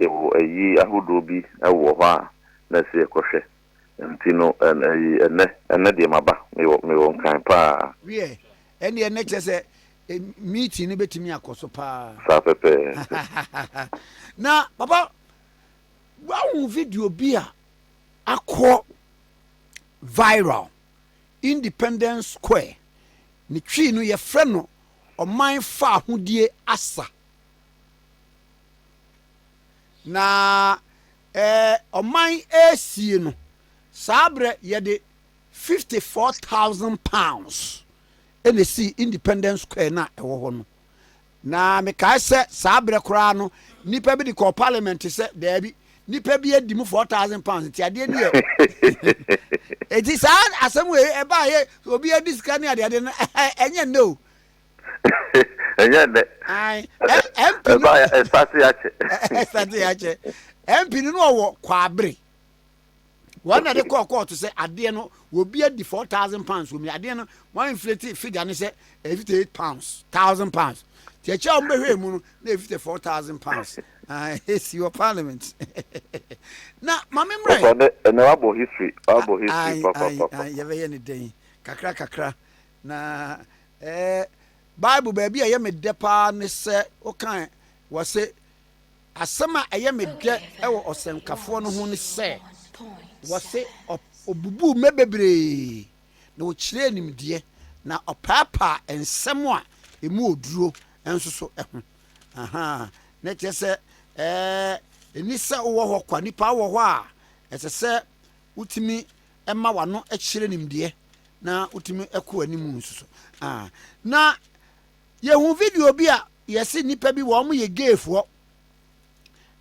Yɛwɔ ayi ahodoɔ bi wɔ hɔ a na ɛsɛ yɛkɔhwɛ nti no ayi ɛnɛ ɛnɛ deɛ maba mewɔ mewɔ nkan paa. Wiɛ ɛndeɛ nɛ kyerɛ sɛ meeting no bɛtumi akɔ so paa. Saa pɛpɛɛpɛ. Na papa woahu video bi a akɔ viral Independence Square ne twi no yɛfrɛ no ɔman faahodie asa. Na ɛɛ ɔman resie no, saa berɛ yɛde fifty four thousand pounds ɛna ɛsii Independence Square no a ɛwɔ hɔ no. Na mekae sɛ saa berɛ koraa no nnipa bi de kɔɔ parliament sɛ daabi nnipa bi adi mu four thousand pounds nti adeɛ bi yɛ ɛti saa asɛm wei ɛbaayɛ obi adi sika ne adeade no ɛnyɛ nnɛ o ɛnyɛ nnɛ ɛba ya ɛsate akyɛ ɛsate akyɛ mp no no ɔwɔ kwabere wɔn na de kɔɔ kɔɔto sɛ adeɛ no obi adi four thousand pounds wɔn adeɛ no wɔn inflate figure no sɛ fifty eight pounds thousand pounds tí ɛkyɛ wɔn bɛhwɛ mu no na fifty four thousand pounds ɛsi wɔ parliament na maame mmerɛ. ɔsɔ ne ɛnna wabɔ history wabɔ history papapapa. yɛbɛyɛ ne dɛn kakra kakra. Na ɛɛ Bible baabi a ɛyɛ me dɛ paa ne sɛ wokae wɔ se asɛm a ɛyɛ me dɛ wɔ ɔsɛnkafoɔ no ho ne sɛ wɔ se ɔbubuu mmɛ bebree na ɔkyerɛɛ nimdeɛ na ɔpaapaa nsɛm a ɛmu ɔduro nso so ho. Ahaa, ne kyerɛ sɛ ɛɛ ɛni sɛ wowɔ hɔ kwa, nipa wɔ hɔ a ɛsɛ sɛ wotumi ɛma w'ano kyerɛ nimdeɛ na wotumi kɔ anim nso so. Ah, na yɛhu video bi a yɛse nnipa bi wɔn yɛ gayfoɔ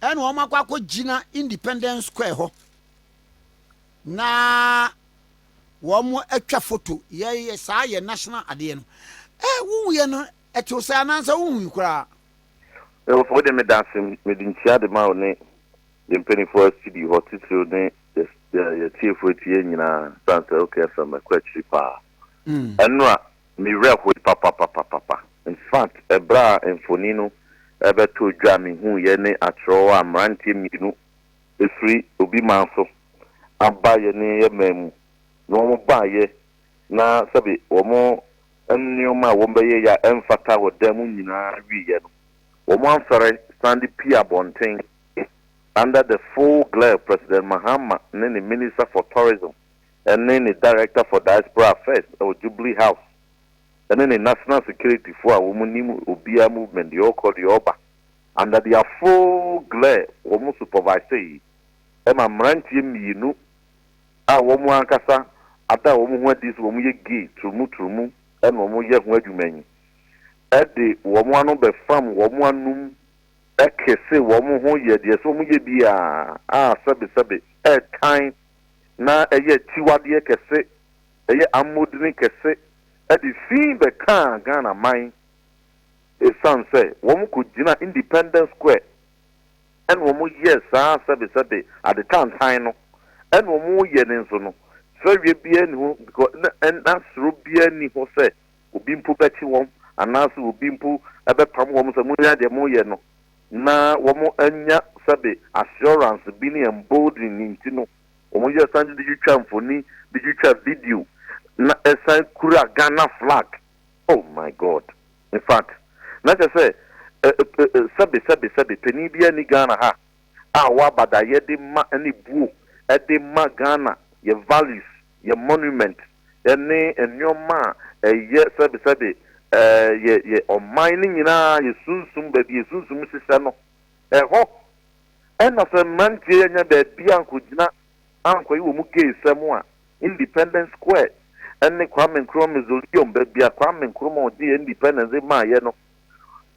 ɛna wɔn akɔ akɔgyina Independence Square hɔ na wɔn atwa foto yɛyɛ saa yɛ national adeɛ no ɛ wohuiɛ no ɛtew sɛ anaasɛ wohui koraa Ɛwɔ sɛ wode me danse mede nkyia de ma wo ne yɛn mpanimfoɔ a sidi hɔ titiriw ne Yɛ yɛ tiefo eti yɛ nyinaa san sɛ ok fm ɛkɔ akyiri paa ɛnora me werɛ hoe papapapapa infact ɛberɛ a mfoni no ɛbɛto dwa me hu yɛ ne akyerɛw a mmeranteɛ mmienu ɛfiri obi man so aba yɛ ne yɛ man mu na wɔn baa yɛ na sɛbi wɔn nneɛma a wɔn bɛyɛ yɛ a ɛmfata wɔ dan mu nyinaa wi yɛ no wɔn amfɛre san de pii abɔnten Under the full glare of President Mahama ne ne Minister for Tourism ne ne Director for Diaspora Affairs wɔ Jubilee House ne ne National Security fo a wɔn nim obiara movement deɛ ɔkɔ deɛ ɔba under their full glare wɔn supervise yi ma mmeranteɛ mmienu a wɔn ankasa ada wɔn ho adi sɛ wɔn yɛ gay turumu turumu ɛna wɔn yɛ ho adwuma yi ɛde wɔn ano bɛfam wɔn anum Ɛke se wɔn ho yɛ deɛ sɛ wɔyɛ bi a, a sɛbesɛbe, ɛtan, na ɛyɛ akyiwadeɛ kɛse, ɛyɛ ammɔdini kɛse, ɛde fi bɛkaa Ghana man esiane sɛ wɔn kɔgyina Independence Square ɛna wɔn yɛɛ saa sɛbesɛbe ade tantan no, ɛna wɔn yɛ no nso no, fɛreɛ biara nni ho, because na, na suro biara nni ho sɛ obi mpo bɛkye wɔn anaasɛ obi mpo bɛpam wɔn sɛ monyɛ deɛ moreyɛ no, na wɔanya sɛbe assurance bi ne emboldened nti no, wɔyɛ san de twitwa mfoni, de twitwa video, na ɛsan kura Ghana flag. Oh my God! In fact, na kyerɛ sɛ sɛbe sɛbe sɛbe panin biara nni Ghana ha a waba da yɛde ma ne buo de ma Ghana, yɛn values. yɛ monument ne nnoɔma a ɛyɛ sɛbesɛbe yɛ yɛ ɔman no nyinaa yɛ sunsum baabi yɛ sunsum hyehyɛ no ɛhɔ ɛna sɛ mmeranteɛ yi anya baabi ankɔgyina ankɔye wɔ mu gay sɛm a independence square ɛne Kwame Nkrumah mausoleum baabi a Kwame Nkrumah ɔgye independence de maayɛ no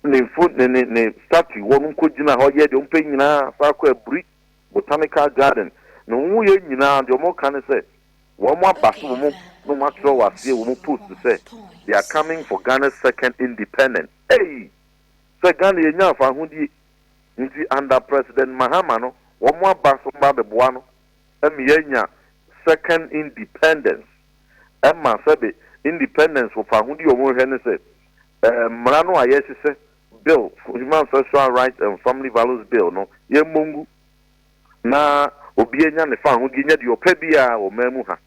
ne mfo ne ne ne statue wɔ no nkɔgyina hɔ yɛ deɛ ɔmpɛ nyinaa saa kɔ aburi Botanical Garden, na wɔn mu yɛ nyinaa deɛ wɔn ka ne sɛ wɔn aba so wɔn na wɔn atwerɛ wɔ aseɛ wɔ wɔn post sɛ they are coming for Ghana's second independence eii sɛ Ghana yɛnya afahodie nti under President Mahama no wɔn aba so wɔn ba bɛboa no ɛma yɛanya second independence ɛma sɛbe independence wɔ fahodie wɔn hwɛ ne sɛ ɛɛ mmara no a yɛhyehyɛ Bill, Human Sexual Rights and Family Values Bill, no, yɛmmɔ ngu na obiara nya ne fahodie nyɛ deɛ ɔpɛ biara wɔ ɔman mu ha.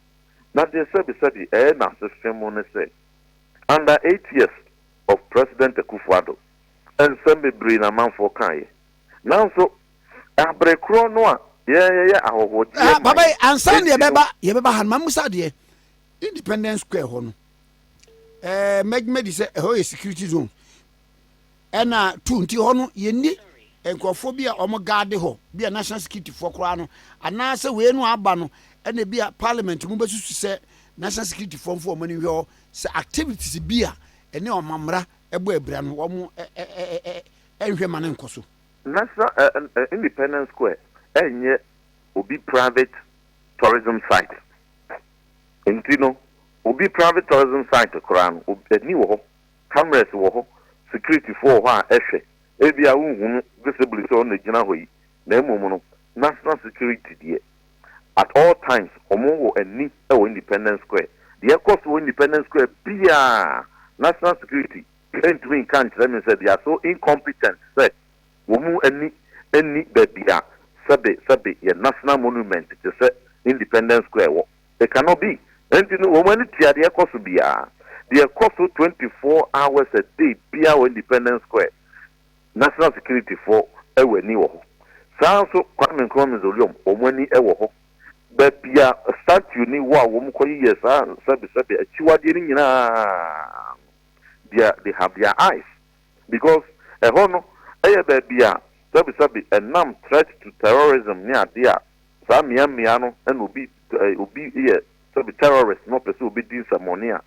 Na deɛ sɛbesɛbe ɛyɛ n'asehwe mu ne sɛ, under eight years of President Akufo Addo, nsɛm bebree na amanfoɔ kaeɛ. Nanso, abere korɔ no a yɛn yɛyɛ ahɔhoɔgyeɛ man, Papa yi, ansa na yɛbɛba, yɛbɛba ha no, mammisa adeɛ. Independence Square hɔ no. ɛɛ mɛgyima di sɛ ɛhɔ yɛ security zone ɛna tu nti hɔ no yɛnni nkurɔfoɔ bi a wɔn gaade hɔ bi a national security foɔ koraa no anaasɛ wei no aba no ɛna bi a parliament mu bɛsusu sɛ national security foɔ mfo wɔn ani nhwɛ hɔ sɛ activities bi a ɛne ɔmammara ɛbɔ abira no wɔn ɛnhwɛ ma no nkɔ so. National uh, uh, Independence Square ɛnyɛ obi private tourism site nti no Obi private tourism site koraa no ob ani wɔ hɔ, cameras wɔ hɔ, security foɔ wɔ hɔ a ɛhwɛ, ebia wo nhunu visibly sɛ ɔno na ɛgyina hɔ yi, na mmom no national security deɛ at all times wɔn wɔ ani wɔ independence square, deɛ ɛkɔ so wɔ independence square biaa national security ntumi nka nkyerɛ me sɛ they are so incompetent sɛ wɔn ani nni baabi a sɛbe sɛbe yɛ national monument te sɛ independence square wɔ. They cannot be. Enti no wɔn ani tua deɛ ɛkɔ so biara, deɛ ɛkɔ so twenty four hours a day biara wɔ Independence Square. National Security foɔ wɔ ani wɔ hɔ. Saa ara nso Kwame Nkrumah Mausoleum, wɔn ani wɔ hɔ. Baabi a statue no wɔ a wɔkɔ yeyɛ saa sɛbesɛbe akyiwadeɛ no nyinaa no, deɛ they have their eyes because ɛhɔ no yɛ baabi a sɛbesɛbe ɛnam threat to terrorism ne adeɛ a Saa mmea mmea no na obi obi yɛ sɛbi terrorist na ɔpɛ sɛ obedi nsɛmmɔne a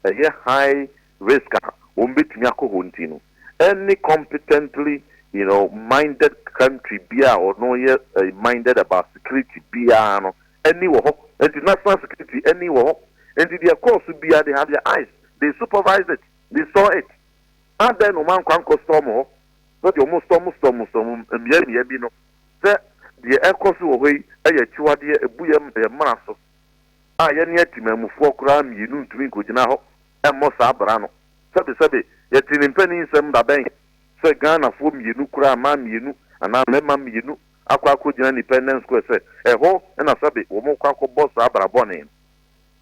ɛyɛ high risk a wɔn betumi akɔ hɔ nti no, any competently you know minded country biara a ɔno yɛ minded about security biara no ani wɔ hɔ. Nti national security ani wɔ hɔ. Nti deɛ ɛkɔɔ so biara they have their eyes, they supervised it, they saw it. Adɛn na wɔn ankɔ ankɔ storm hɔ sɛdeɛ wɔn storm storm storm mmea mmea bi no? sɛ deɛ ɛrekɔ so wɔ hɔ yi yɛ akyiwadeɛ a ɛbu yɛn mmara so a yɛne atemammufoɔ koraa mmienu ntumi nkɔgyina hɔ mmɔ saa bra no. Sɛbesɛbe, yɛtee ne mpanin nsɛm da bɛn sɛ Ghanafoɔ mmienu koraa, mmaa mmienu anaa mmarima mmienu akɔ akɔgyina Independence Square sɛ ɛhɔ na sɛbe wɔrekɔ akɔbɔ saa bra bɔne no.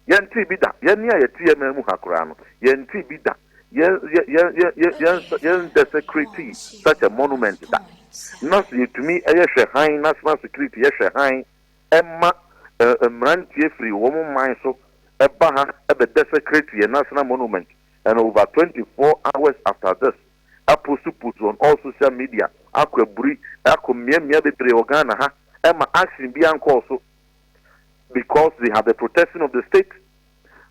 Yɛntee bi da. Yɛn nne a yɛte yɛn nan mu ha koraa no, yɛntee bi da. Yɛn, yɛn, yɛn, yɛn, yɛn, yɛn nsa, yɛn nsɛsɛkretee such a monument da. Ná sɛ yɛtumi yɛ hwɛ hann, national security yɛ hwɛ hann ma eh, mmeranteɛ firi wɔn man so ba ha bɛ desecrate yɛn national monument and over 24 hours after this apostupost on all social media akɔ aburi akɔ mmeammea bebree wɔ Ghana ha ɛma action bi ankɔɔ so because they have the protection of the state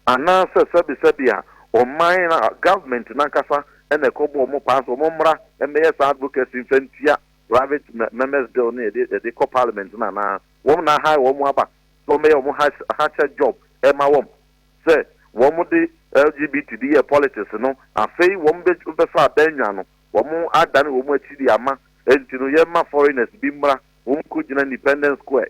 anaasɛ sɛbesɛbe a ɔman na government nankasa na ɛkɔbɔ wɔn paa sɛ wɔn mmra mmɛyɛ saa advocacy mfa ntua private members bill no yɛde yɛde kɔ parliament no anaa wɔn na ahae wɔn aba sɛ wɔn bɛyɛ wɔn hakyɛ job ɛma wɔn sɛ wɔn de LGBT de yɛ politics no afei wɔn bɛfa abɛnwa no wɔn adane wɔn akyi de ama nti no yɛma foreigners bi mmra wɔn kɔ gyina independence square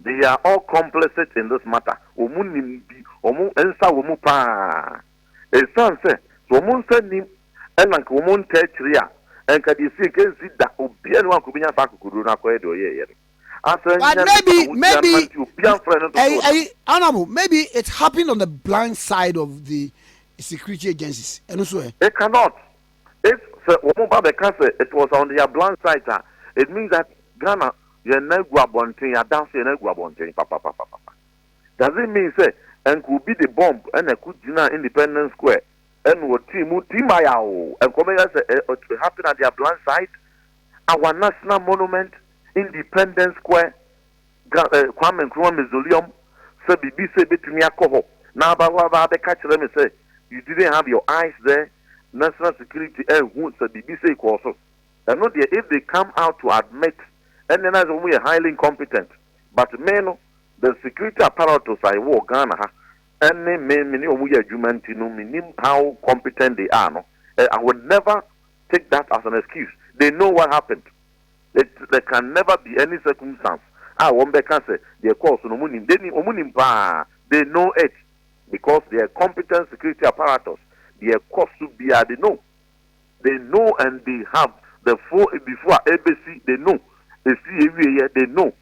They are all complicit in this matter, wɔn nim bi, wɔn nsa wɔ mu paa. Ɛsiane sɛ sɛ wɔn nsa nnim na nka wɔn ntaa akyiri a, nka deɛ ɛsii nka ɛnsi da, obiara nni hɔ a nka ɔbɛnya saa akokoduro no akɔyɛ deɛ ɔyɛeɛ no. Asɛ But nyɛ ne maybe, saa ahotia maybe, no ma nti obiara mfrɛ no ɛyi, dodoɔ no. ɛyi, honourable, maybe it happened on the blind side of the security agencies, ɛno nso ɛ? It cannot. If sɛ wɔn ba bɛka sɛ it was on their blank site a, it means that Ghana yɛn nan gu abɔnten, yɛada so yɛn nan gu abɔnten papapapapa. Does it mean sɛ ɛnka obi de bomb na ɛko gyinaa Independence Square ɛna ɔtee mu timbayao ɛnka ɔbɛyɛ sɛ it happened at their blank site, our national monument, Independence Square, Ga eh, Kwame Nkrumah Mausoleum sɛ biribi sɛ ebetumi akɔ hɔ na aba hɔ aba abɛka akyerɛ me sɛ you didn't have your eyes there, national security anhu sɛ biribi sei kɔɔ so. Ɛno deɛ if they come out to admit ɛnneɛ na ayɛ sɛ wɔn yɛ highly incompetent but me no the security apparatus a ɛwɔ wɔ Ghana ha ɛne me me ne wɔn yɛ adwuma nti no menim how competent they are no, eh, I will never take that as an excuse. They know what happened. It there can never be any circumstance a wɔn bɛ ka sɛ deɛ ɛkɔɔ so no wɔn nim, they nim, wɔn nim paa, they know it because they are competent security apparatus, deɛ ɛkɔ so biara they know, they know and they have the full before a ɛbɛsi they know, ɛsi ɛwieɛ they know.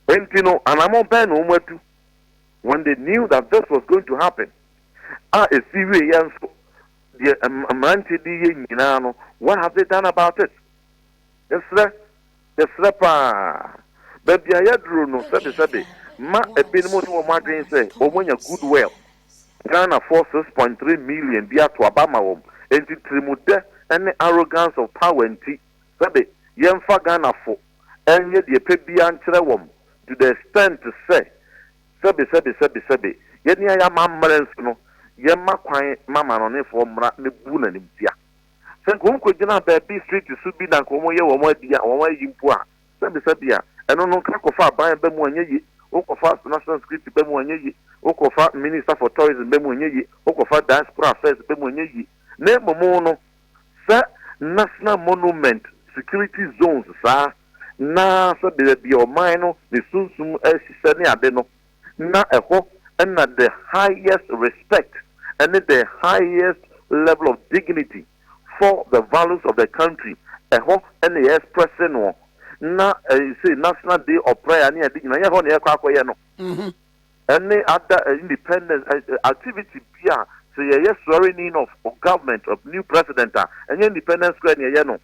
Enti no anamɔ bɛn na wɔn atu when they knew that this was going to happen a ɛsi wieɛ nso deɛ mmeranteɛ de yɛ nyinaa no what have they done about it? Yɛsrɛ, yɛsrɛ paa. Baabi a yɛaduru no, sɛbesɛbe, mma ebinom nni wɔn adwene sɛ wɔanya goodwill, Ghanafoɔ six point three million bi ato aba ama wɔn, enti tirimudɛ ne arrogance of power nti, sɛbe, yɛmfa Ghanafo nyɛ deɛ ɛpɛ biara nkyerɛ wɔn to the extent sɛ, sɛbesɛbe, sɛbesɛbe, yɛn a yɛn amammerɛ nso no, yɛmma kwan ma amanɔnefoɔ mmra mmɛbu no animtia. Sɛ nka wɔkɔgyinaa baabi street so bi na nka wɔyɛ wɔn adi a, wɔn ayi mpo a, sɛbesɛbea. Ɛno no, nka kɔfa aban ba mu a ɛnyɛ ye, wokɔfa national security ba mu a ɛnyɛ ye, wokɔfa minister for tourism ba mu a ɛnyɛ ye, wokɔfa diaspora affairs ba mu a ɛnyɛ ye. Na mmom no, sɛ national monument security zones saa, na sɛbea baabi a ɔman no ne sunsum ahyehyɛ ne ade no, na ɛhɔ na the highest respect ne the highest level of dignity for the values of the country, ɛhɔ na yɛ expresse noɔ, na ɛsei national day of prayer ne ade nyina, yɛ hɔ na yɛkɔ akɔyɛ no, ɛne ada independence activity bi a sɛ yɛyɛ swearing in of government of new president a, ɛnyɛ independence square na yɛyɛ no.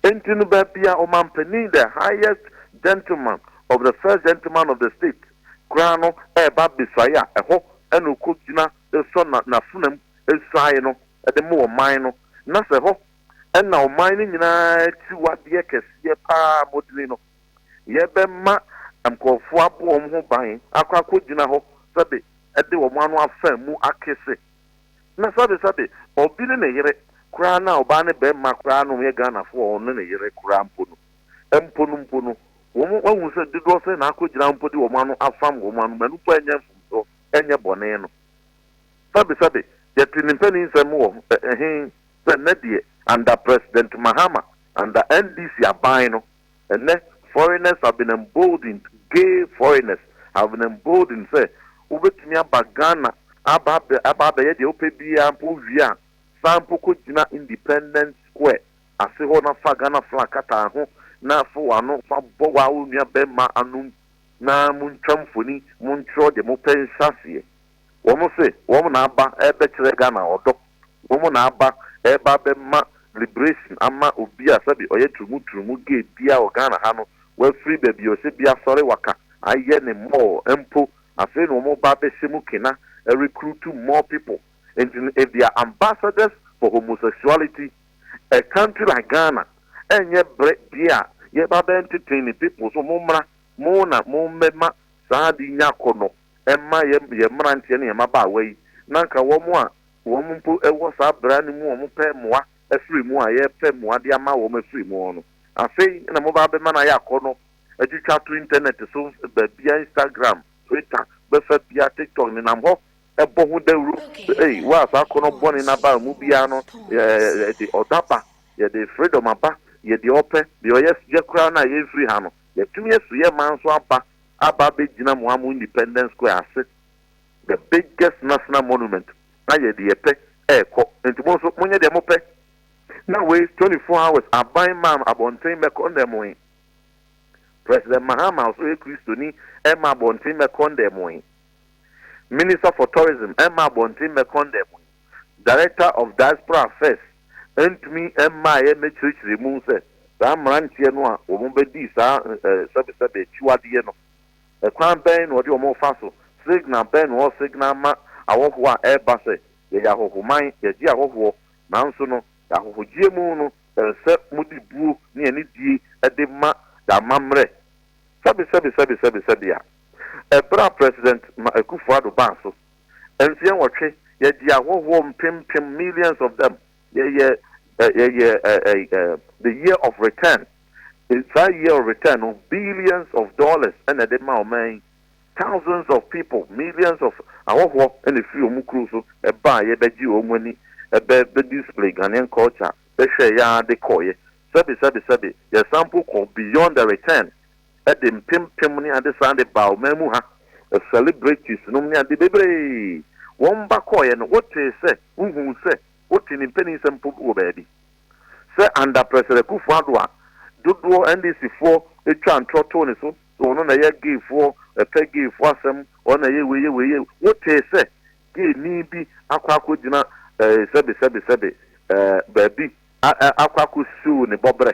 Enti no baabi a ɔmanpanin, the highest gentleman of the first gentleman of the state, koraa no reba besuae a, ɛhɔ na ɔkɔgyina de sɔ na n'afenam suae no de ma ɔman no. Na sɛ ɛhɔ na ɔman no nyinaa akyiwadeɛ kɛseɛ pa ara, mmɔdini no, yɛbɛma nkurɔfoɔ abɔ wɔn ho ban akɔ akɔgyina hɔ sɛbe de wɔn ano afa mu akese na sabe sabe ɔbi ne ne yere koraa na ɔbaa ne bɛɛma koraa na wɔn yɛ Ghana foɔ a ɔne ne yere koraa mpo no mpo no mpo no wɔn ahunu sɛ dodoɔ sɛn na akɔ gyina mpo de wɔn ano afam wɔn ano manu mpo ɛnyɛ mfomsoɔ ɛnyɛ bɔne no sabe sabe yɛte ne mpanin nsɛm wɔ ɛhen sɛ nɛ deɛ under president Mahama under NDC aban no Ɛnnɛ, foreigners have been emboldened, gay foreigners have been emboldened sɛ wobɛtumi aba Ghana aba abɛ aba abɛyɛ deɛ wopɛ biara mpo wowie a, san mpo kɔgyina Independence Square ase hɔ na fa Ghana flag kata ho na fa w'ano fa bɔ wo ara wo nua barima anom na montwa mfoni, montwerɛ deɛ mopɛ nhyɛaseɛ. Wɔn se wɔn na aba rebɛkyerɛ Ghana ɔdɔ, wɔn na aba reba abɛma liberation ama obi a sɛbi ɔyɛ turumu turumu gay biara wɔ Ghana ha no, wafiri baabi a ɔhyɛ bi asɔre waka ayɛ ne mall mpo, afei na wɔn reba abɛhyɛ mu kena, recruit more people. Nti no if they are ambassadors for homosexuality, a country like Ghana, ɛnyɛ berɛ deɛ a yɛreba abɛnteten ne people so, mommra, mo na mommɛma saa ade yi nya akɔnnɔ. ɛma yɛ yɛ mmeranteɛ ne yɛ mmabaawa yi na nka wɔn a wɔn mpo wɔ saa bra no mu wɔn pɛ mmoa afiri mu a yɛpɛ mmoa de ama wɔn afiri mu no afei na mo ba bɛma no ayɛ akɔnɔ atwitwa to internet so baabia Instagram Twitter bɛfa bia TikTok nenam hɔ ɛbɔ ho dawuro ei waa saa akɔnɔ bɔne no aba mu biara no yɛde ɔdɔ aba yɛde freedom aba yɛde ɔpɛ deɛ ɔyɛ yɛ koraa no a yɛmfiri ha no yɛtumi asu yɛ man so aba aba abɛgyina mo a mo Independence Square ase, the biggest national monument, na yɛde yɛ pɛ rekɔ, nti mo nso monyɛ deɛ mopɛ. Na wei 24 hours aban maa no abɔnten mmɛkɔndɛmoe. President Mahama nso yɛ Kristoni, ɛma abɔnten mmɛkɔndɛmoe. Minister for Tourism mma abɔnten mmɛkɔn da mu yi, Director of Diaspora Affairs ntumi mmaeɛ mmɛkyerɛkyerɛ mu sɛ saa mmeranteɛ no a wɔbɛdii saa sɛbesɛbe akyiwadeɛ no, kwan bɛn na wɔde wɔn refa so, signal bɛn na wɔresignal ma awɔhoɔ a ɛreba sɛ yɛyɛ ahɔhoman, yɛgye ahɔhoɔ, nanso no yɛn ahɔhogyeɛ mu no ɛsɛ sɛ mode buo ne anidie de ma yɛn amammerɛ. Sɛbesɛbe sɛbesɛbe sɛbe a. Ɛberɛ a President Ma Akufo Addo baa so, mfeɛ nwɔtwe, yɛgye ahɔhoɔ mpem mpem, millions of them, yɛyɛ eh, yɛyɛ eh, eh, eh, the year of return, eh, saa year of return no, billions of dollars ɛna ɛde ma ɔman yi, thousands of people, millions of ahɔhoɔ ɛna ɛfiri wɔn kuro so ɛbaa yɛ bɛgye wɔn ani, ɛbɛ bɛ display Ghanaian culture, bɛhwɛ yɛ ara de kɔɔyɛ, sɛbe sɛbe sɛbe, yɛsan mpo kɔ beyond the return, de mpempem ne ade san de baa ɔman mu ha, celebrities nom ne ade bebree, wɔn ba kɔɔeɛ no wotee sɛ wohuu sɛ wote ne mpaninsɛm mpo wɔ baabi sɛ under President Akuffo Addo a dodoɔ NDC foɔ twaa ntorɔ too ne so sɛ ɔno na ɛyɛ gay foɔ, ɛpɛ gay foɔ asɛm, ɔno na ɛyɛ wei yɛ wei yɛ wei, wotee sɛ gay ni bi akɔ akɔ gyina eh, sɛbe sɛbe sɛbe eh, baabi a, a, akɔ akɔ siw ne bɔbrɛ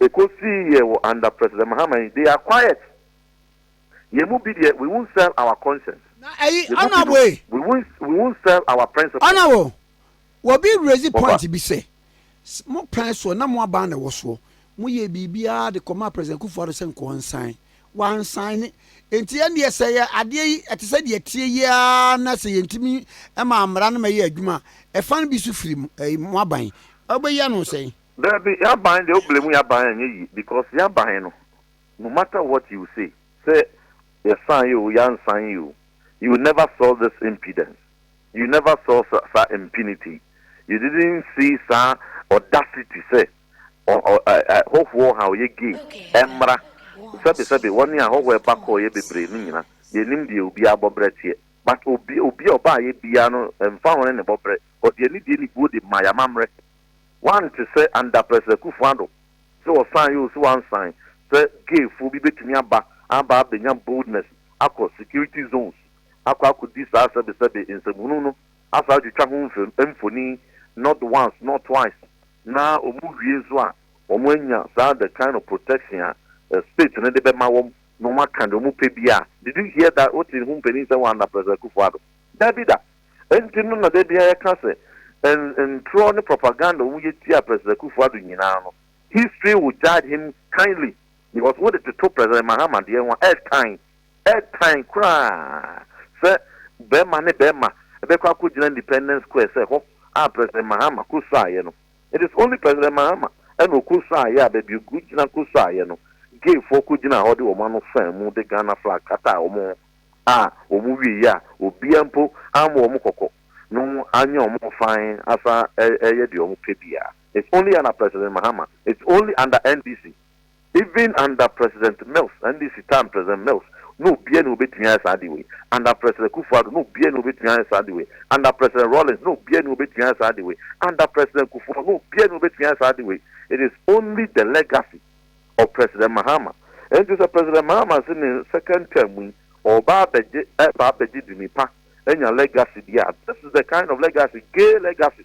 Eko sii yɛ wɔ under president Mahama yi they are quiet yɛ mu bi deɛ we won't sell our conscience Na ɛyi yɛ mu binom honorable we won't we won't sell our principles. Honorable wɔ bi raise Mo ba. point bi sɛ mo pɛn soɔ na mo aban na ɛwɔ soɔ mo yɛɛ biribiara de kɔmaa president Kufuor Addo sɛ nka ɔnsan wansan nti ɛndeɛ sɛ yɛ adeɛ yi ɛte sɛ deɛ ɛteɛ yi ara na sɛ yɛntumi ɛmaa mmara no mɛyɛ adwuma a ɛfa no bi nso firi mo ɛyi mo aban a wobɛyi ano sɛn? Dabi yaban deɛ wo blame yaban a ɛnyɛ yie because yaban no no matter what you say sɛ yɛ san yɛ oo yɛ ansan yɛ oo you will never saw this impudence you never saw saa impunity you didn't see saa audacity sɛ hɔhoɔ ha ɔyɛ gay ɛmmra sɛbe sɛbe wɔne a hɔhoɔ ɛba kɔɔ yɛ bebree no nyina yɛ nim deɛ obiara bɔbrɛ teɛ but obi obi a ɔbaa yɛ biara no ɛmfa ho ne ne bɔbrɛ ɔde anidie ne buo de ma yɛ amammerɛ Wɔante sɛ Andapɛsɛ Akufo-Addo sɛ ɔsan yɛ o sɛ wansan sɛ gay foɔ bi bɛtumi aba aba abɛnya boldness akɔ security zones akɔ akɔdi saa sɛbesɛbe nsɛmhunu no asan atwitwa ho mfoni not once not twice na wɔn wie nso a wɔn anya saa the kind of protection a state no de bɛma wɔn na wɔn aka deɛ wɔn pɛ biara did you hear that wote ho mpanin sɛ wɔ Andapɛsɛ Akufo-Addo? Dabi da! Enti no na da biara yɛka sɛ ntorɔ ne propaganda a wɔyɛ tia President Akufo Addo nyinaa no, history will judge him kindly because wode toto President Mahama deɛ ho a, ɛtan, ɛtan koraa sɛ bɛrima ne bɛrima bɛkɔ akɔgyina Independence Square sɛ hɔ a President Mahama kɔsuaeɛ no. It is only President Mahama ɛna ɔkɔsuaeɛ a baabi ɔgyina kɔsuaeɛ no, gayfoɔ kɔgyinaa hɔ de wɔn ano faa mu de Ghana flag kataa wɔn ho. a wɔn wiei a obiara mpo ammɔ wɔn kɔkɔ no anyɛ wɔn fann asan reyɛ deɛ wɔn pɛ biara. It's only under President Mahama, it's only under NDC, even under President Mills, NDC time President Mills, na obiara ni obetumi ayɛ saa adeɛ wei, under President Kufuor Addo, na obiara ni obetumi ayɛ saa adeɛ wei, under President Rawlings, na obiara ni obetumi ayɛ saa adeɛ wei, under President Kufuor, na obiara ni obetumi ayɛ saa adeɛ wei, it is only the legacy. ɔ President Mahama. Enti sɛ President Mahama se ne second term mu yi ɔɔba abɛgye ɛɛba abɛgye dini pa anya legacy bi a, this is the kind of legacy, gay legacy.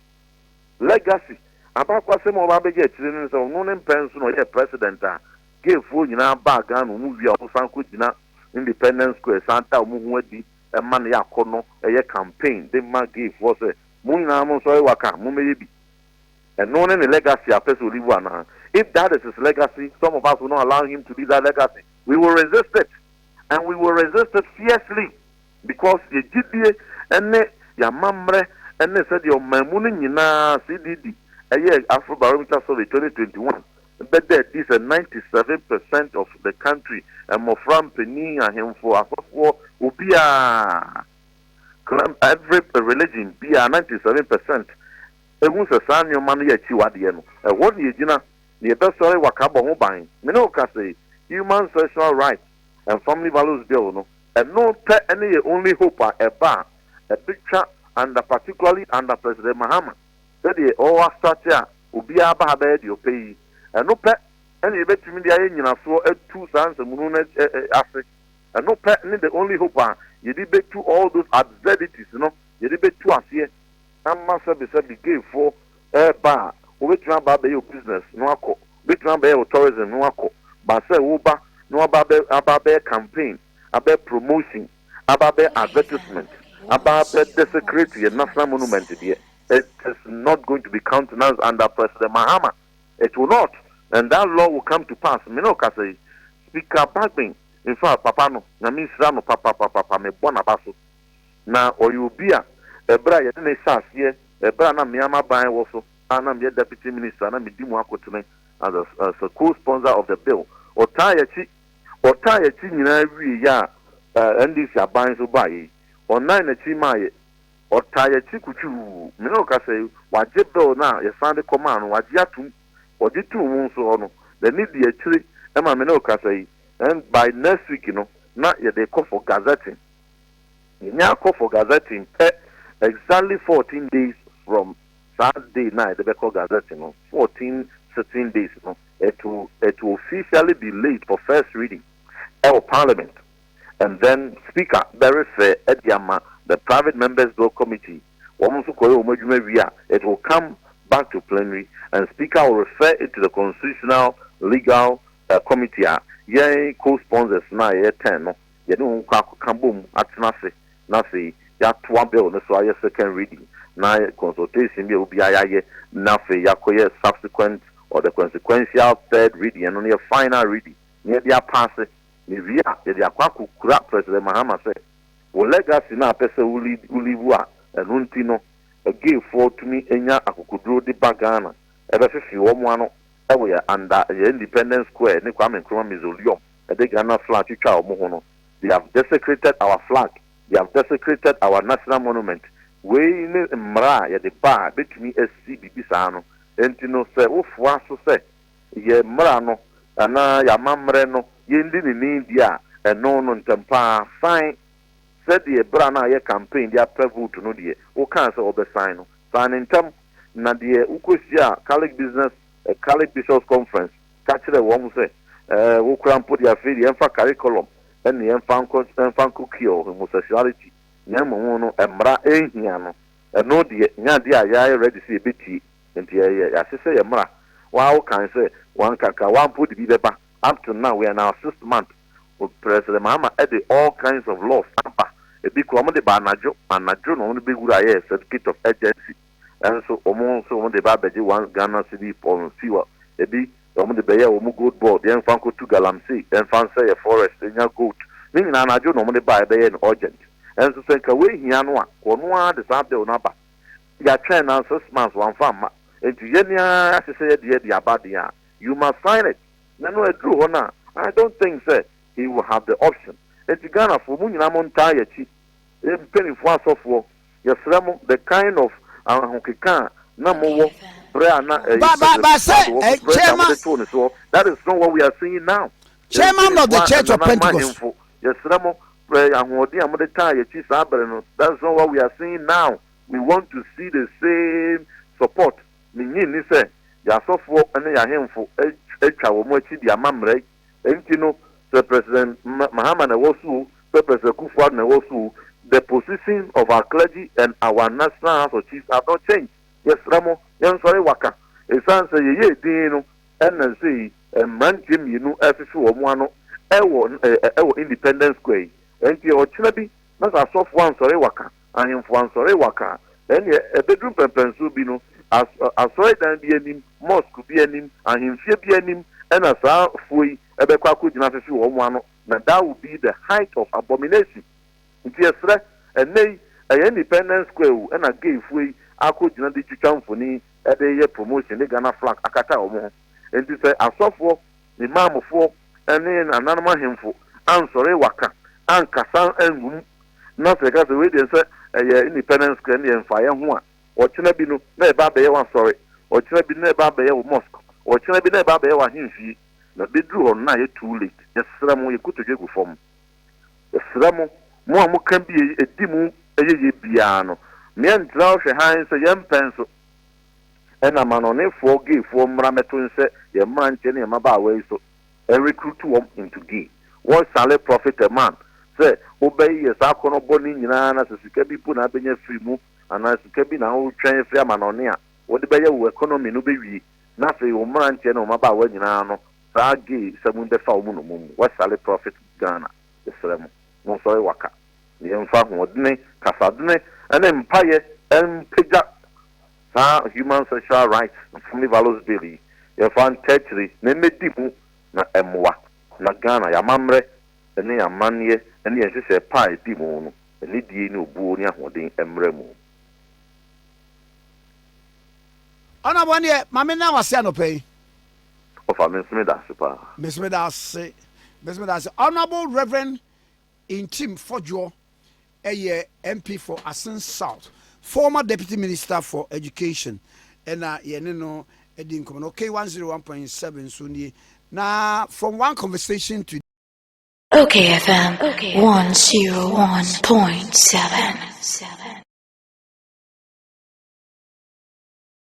Legacy, abaakwasɛm a ɔɔba abɛgye akyire no ne sɛ ɔno ne mpɛ nso na ɔyɛɛ President a gay foɔ nyinaa baa Ghana ɔmo wie a ɔmo san kɔ gyina Independence Square san da ɔmo ho adi ma no yɛ akɔnɔ yɛ campaign de ma gay foɔ sɛ mo nyinaa mo nso ɔyɛ waka mommɛyɛ bi. Ɛno ne ne legacy a pɛsɛ olivu anaa? If that is his legacy some of us will not allow him to leave that legacy we will resist it and we will resist it fiercely because yɛ gyidie ne yɛ amammerɛ ne sɛdeɛ ɔmanmu no nyinaa CDD ɛyɛɛ Afrobarometer survey 2021 bɛda adi sɛ 97 percent of the country mmɔfra, mpanin, ahemfo, asɔfoɔ, obiara. Climb Every Religion bi a 97 percent hu sɛ saa nneɛma no yɛ akyiwadeɛ no, ɛhɔ na yɛgyina na yɛbɛsɔre wakabɔ ho ban. Me ne wo ka sei, Human Sexual Rights and Family Values Bill no, ɛno pɛ ne yɛn only hope a ɛba a ɛbɛtwa under particularly under President Mahama sɛdeɛ ɔastate a obiara ba ha bɛyɛ deɛ ɔpɛ yi. Ɛno pɛ na yɛbɛtumi de ayɛ nyinasoɔ atu saa nsɛmhunu no ase. Ɛno pɛ ne the only hope a yɛde bɛtu all those absurdities no, yɛde bɛtu aseɛ ama sɛbesɛbe gayfoɔ reba a, wobɛtumi aba abɛyɛ wo business na woakɔ, wobɛtumi abɛyɛ wo tourism na woakɔ, but sɛ woba na woaba abɛ, aba abɛyɛ campaign, abɛyɛ promotion, aba abɛyɛ advertisement, aba abɛ desecrate yɛn national monument deɛ, it is not going to be countenanced under President Mahama, it will not, and that law will come to pass, me na ɔkasa yi, Speaker Bagbin. in fact papa no Nyame nhyira no papapapapa me bɔ naba so na ɔyɛ obi a ɛbrɛ a yɛde no hyɛ aseɛ ɛbrɛ a na me ara m'aban wɔ so a na meyɛ Deputy Minister a na medi mu akotene as a as a co-sponsor of the bill ɔtaa yɛakyi ɔtaa yɛakyi nyinaa wie yɛ a eh, NDC aban so baa yɛ yi ɔnan n'akyi maa yɛ ɔtaa yɛakyi kutwuu me ne ɔka sɛ wagye bill no a yɛsan de kɔmaa no wagye atom ɔgye too mu nso hɔ no n'ani di akyire ɛma me ne ɔka sɛ yi Then by next week no na yɛde kɔ for gazetting. Yɛnya akɔ for gazetting pɛ, exactly fourteen days from saa day no a yɛde bɛkɔ gazetting no, fourteen sitting days no, it will, it will officially be laid for first reading ɛwɔ parliament. And then speaker bɛrefrɛ de ama the private members bill committee, wɔn nso kɔyɛ wɔn adwuma wie a, it will come back to plenary and speaker will refer it to the constitutional, legal, Ɛ committee a yɛn co sponsors no a yɛyɛ ten no yɛne wɔn kɔ akɔka bom atena ase na afei yɛatoa bill no so ayɛ second reading na consultation bi a obiara yɛayɛ na afei yɛakɔyɛ subsequent or the consequential third reading ɛno no yɛ final reading na yɛde apaase na ewie a yɛde akɔ akɔkura President Mahama sɛ wo legacy no a wopɛ sɛ wo lead wo live a ɛno nti no gayfoɔ tumi nya akokoduro de ba Ghana ɛbɛfefe wɔn ano Ɛwɔ yɛn under yɛn independence square ne Kwame Nkrumah mausoleum ɛde Ghana flag twitwa wɔn ho no they have desecrated our flag they have desecrated our national monument wei ne mmara a yɛde ba a bɛtumi asi biribi saa no nti no sɛ wofoa so sɛ yɛn mmara no anaa yɛn amammerɛ no yɛndi ne ni deɛ a ɛno no ntɛm paa fine Sɛdeɛ berɛ a na ayɛ campaign de apɛ vote no deɛ wokaa sɛ wobɛsan no, san no ntɛm, na deɛ wokɔhyiaa Catholic Business, Catholic Bishops Conference ka kyerɛɛ wɔn sɛ wokura mpo deɛ afei deɛ ɛmfa curriculum ne ɛmfa nkɔ ɛmfa nkɔ cure homosexuality na mmom no mmara ɛnhia no, ɛno deɛ nyɛ adeɛ a yɛayɛ ready sɛ yɛbɛtie, nti yɛyɛ yɛahyehyɛ yɛn mmara, wo ara wokae sɛ wɔnka ka, wo ara mpo wode bi bɛba, up to now we are in our sixth month. Wɔpɛrɛ sɛ Maama de all kinds of laws aba. Ebi koraa wɔde ba anadwo anadwo na wɔde bɛwura ayɛ certificate of urgency. Nanso wɔn nso wɔde reba abɛgye one Ghana cedi pɔn no fi hɔ. Ebi na wɔde bɛyɛ wɔn gold board, yɛmfa nkɔtu galamsey, yɛmfa nsɛeɛ forest nnya gold. Ne nyinaa anadwo na wɔde ba a yɛbɛyɛ no urgent. Nanso sɛ nka wei hia no a, wɔno ara de saa bill no aba. Yɛatwɛn now six months wɔamfa amma. Enti yɛn ara yɛahyehyɛ yɛn deɛ de aba deɛ a, you must sign it. Nɛ no aduru hɔ no a I don't think sɛ he will have the option nti Ghanafoɔ mo nyinaa mo ntaa yɛakyi yɛ mpaninfoɔ asɔfoɔ yɛsrɛ mo the kind of ahokeka a na mo wɔ berɛ a na ɛyɛ President Kufuor Addo wɔ president a mo de too ne soɔ that is not what we are seeing now yɛ mpaninfoɔ a ɛnananom ahemfo yɛsrɛ mo prɛ ahoɔden a mo de taa yɛakyi saa berɛ no that is not what we are seeing now we want to see the same support Minnye nni sɛ yɛn asɔfoɔ ne yɛn ahemfo atwa wɔn akyi de ama mmara yi. Enti no, sɛ President Mahama na ɛwɔ so o, sɛ President Kufuor na ɛwɔ so o, the position of our clergy and our National House of Chiefs have not changed. Yɛsrɛ mo, yɛnsɔre waka. Esiane sɛ yɛyɛɛ dinn no na sɛ yi mmeranteɛ mmienu rehwehwe wɔn ano wɔ Independence Square yi. Enti ɔkyena bi na sɛ asɔfoɔ ansɔre waka Ahemfo ansɔre wɔaka ɛnneɛ ɛbɛduru mpɛnpɛnsoɔ bi no as asɔredan bi anim, mosque bi anim, ahemfie bi anim ɛna saa foɔ yi bɛkɔ akɔgyina afefe wɔn ano na that will be the height of abomination. Nti yɛsrɛ, ɛnnɛ yi ɛyɛ independence square o ɛna gay foɔ yi akɔgyina de twitwa mfoni de yɛ promotion de Ghana flag akata wɔn ho. Nti sɛ asɔfoɔ, Ne maamefoɔ ne nananom ahemfo ansɔre waka, ankasa angu mu. Na sɛ yɛka sɛ wei deɛ sɛ ɛyɛ Independence Square deɛ mfa yɛn ho a, ɔkyena bi no na ɛba abɛyɛ w'asɔre, ɔkyena bi no na ɛba abɛyɛ wo mosque, ɔkyena bi na ɛba abɛyɛ w'ahemfie. Na bɛduru hɔ no na ayɛ too late. Yɛsrɛ mo, yɛn kotodwe gu fam. Yɛsrɛ mo, mo a moka bie yi, ɛdi mu yɛyɛ biara no, moantra hɔ hwɛ hann sɛ yɛmpɛ nso. Ɛna amanɔnefoɔ gayfoɔ mmra mɛto nhyɛ yɛn mmeranteɛ ne yɛn mmabaawa yi so and recruit wɔn into gay. Wɔn sale profit a man sɛ wobɛyeyɛ saa akɔnnɔ bɔne nyinaa na sɛ sika bi mpo na abɛnya firi mu anaa sika bi na woretwɛn afiri amanɔne a wode bɛyɛ wo economy no bɛwie na afei wo mmeranteɛ ne wo mmabaawa nyinaa no saa gay sɛm yi bɛfa wɔn nnommum mu. Wɔn sale profit Ghana. Yɛsrɛ mo, monsɔre waka. Yɛmfa ahoɔdene, kasadene, ne mpaeɛ mpagya saa Human Sexual Rights and Family Violence Bill yi. Yɛmfa ntaa akyire na ɛmmɛdi mu na ɛmmoa na Ghana, yɛn amammerɛ ne yɛn amanneɛ ne yɛn nhyehyɛɛ pa a ɛdi mu no, anidie ne obuo ne ahoɔden mmra mu. Ɔnabɔ ɛneɛ ma me na wase anɔpa yi. Ɔfa, mese meda ase paa. Mese meda ase. Mese meda ase. Honourable Rev. Ntim Fodjour yɛ MP for Asin South, former Deputy Minister for Education na yɛne no di nkɔmmɔ no. K one zero one point seven nso nie na from one conversation to. Ok FM one zero one point seven.